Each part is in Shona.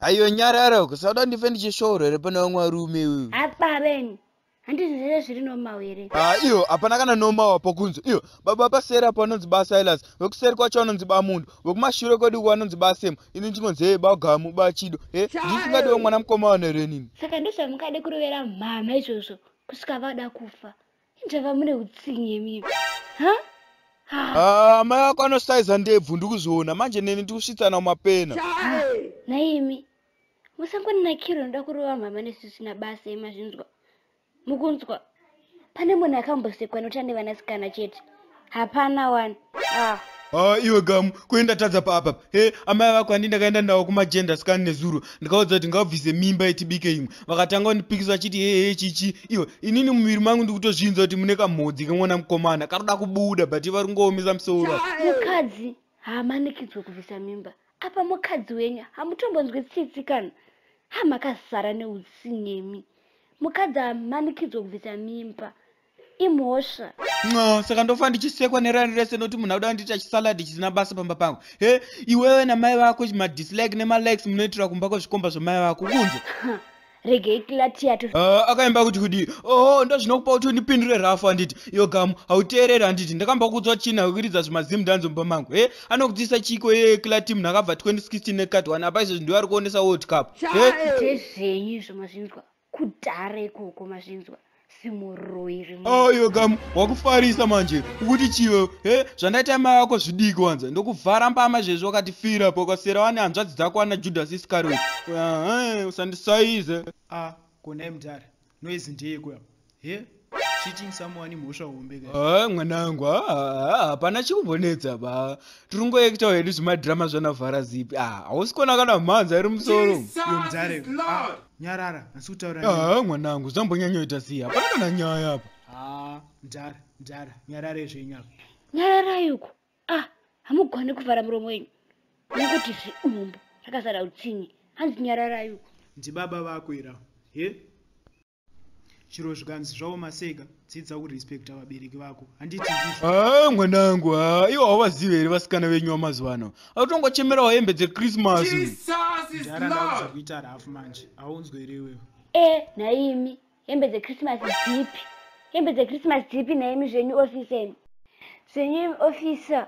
ayo nyarara kusada ndife ndichishooro here pana vamwe varume uyu apaveni handizvizvese zviri nomaw here ah, iyo hapana kana nomawa pokunzi iyo baba paseri apo vanonzi ba silas vekuseri kwacho vanonzi ba munhu vekumashure kwedu uko vanonzi ba sem ini ndinonzi hee bagamu ba chido e eh, ndisingadiwo mwana mukoma vanhu here nini saka ndozvamukade kurovera mhana izvozvo kusvika vada kufa injava mune utsinye mii ha ah, amai ako anosaiza ndebvu ndikuziona manje neni ndikusvitsana mumapena naimi musangoninakiro ndoda kurova mhama nesu sina basa imazvinzwa mukunzwa pane munhu akambosekwa noti ane vanasikana chete hapana wani ah. Ah, iwe gamu kuenda tadza paapa he amai vako handi ndakaenda ndawo kumagenda scan nezuro ndikaudza kuti ngavabvise mimba yetibike imwe vakatanga kundipikisa vachiti hehe chichi iwe inini mumuviri mangu ndikutozvinza kuti mune kamhodzi kemwana mukomana karuda kubuda but ivari kungoomesa musoro mukadzi haamanikidzwe kubvisa mimba apa mukadzi wenyu hamutombonzwe tsitsi kana ha makazara neutsinemi mukadzi amanikidzwa kubvisa mimba imhosva no saka ndofa ndichisekwa nerani rese noti munhu auda ndiita chisaladi chisina basa pamba pangu he iwewe namai vako madislike nemalikes munoitira kumba kwezvikomba zvamai vako kunze regei klatiya tu uh, akaimba kuti kudii oho oh, ndozvinokupa kuti undipindure rafu handiti iyo gamu hauteereri handiti ndakamba kudzwa chini hakuridza zvimazimu ndanzi mumba mangu he anokutisa chiko ye klati munhu akabva 2016 nekat one apa izvozvi ndiwe ari kuonesa world cup zvenyu izvo mazvinzwa kudhara ikoko mazvinzwa ayo kam wakufarisa manje ukuti chivo he zvandaita mai vako zvidiki wanza ndokuvhara mbama zvezvo wakatifira po ukasera wani hanzvadzi dzako wana judhasi isikaroyi usandisaize a konai mudhara noizi ndeyekuya he cheating someone imhosva hombe ka ah, mwanangu ah, ah, hapana chikuvonetsa ba tiri ngoekitawo hedu zvimadhirama zvanavhara zipi hausi kona kana mhanza iri musoro mudhare nyarara asi kutaura haa mwanangu zvambonyanyoita siya hapana kana nyaya apa haa mdara mdara nyarara izvenyapa nyararai uko ah hamugone kuvhara muromo wenyu nokuti zviumbu rakazara utsinye hanzi nyararai uko ndibaba vako ira he chero zvikanzi zvaoma seka dzidza kurespecta vabereki vako handiti ndizvo Ah, mwanangu ah, ivo havazive here vasikana venyu vamazuva ano akutongochemerawo hembe dzechristmas Jesus is mdhara ndauza Lord. kuita rafu manje aunzwe here iwewe e nhaimi hembe dzechristmas dzipi hembe dzechristmas dzipi nhaimi zvenyu ofisa imi zvenyu imi ofisa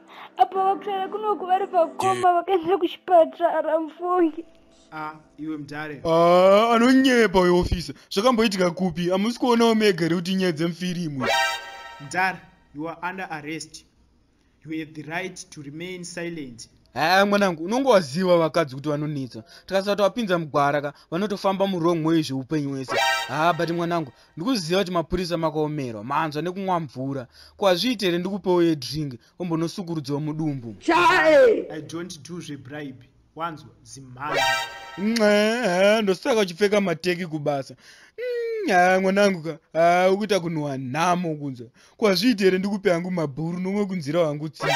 apa vakusara kunoku vari pakoma vakaenda kuchipatara mfungi ah, iwe mdare ah, anonyepa uyo ofisa zvakamboitika kupi hamusi kuonawo mega here kuti nyaya dzemufirimu mdare you are under arrest you have the right to remain silent haa mwanangu unonge waziva vakadzi kuti vanonetsa tikasati wapinza mugwara ka vanotofamba murong way zveupenyu wese haa but mwanangu ndikuziva kuti mapurisa makaomerwa manzwa nekunwa mvura ko hazviite here ndikupewo yedrink ombonosukurudziwa mudumbu chae i don't do zvebribe wanzwa zimhana nxee ndosaka uchipfeka mateki kubasa mm, ha mwanangu ka ha ukuita kunhuwa nhamo kunzwa ko hazviite here ndikupe hangu mabhuru nomwe kunzira wangu tsitsi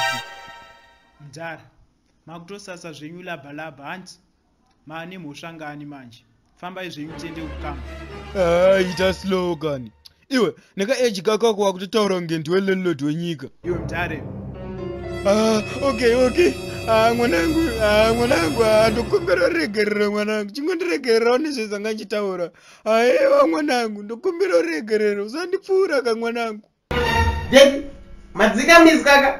mdhara makutosasa zvenyu labalaba hanti mane mhosva ngani manje fambai zvenyu tiende kukamba ah, ita slogan iwe nekaeji kakako wakutotaura kunge ndiwe landlord wenyika iwe mdare ah, okay okay ah, mwanangu ah, mwanangu ah, ndokumbira uregerera mwanangu chingondiregererawo nezvezanga ndichitaura aiwa ah, mwanangu ndokumbira uregerera usandipfuura ka mwanangu Jeki, madzika mizi kaka.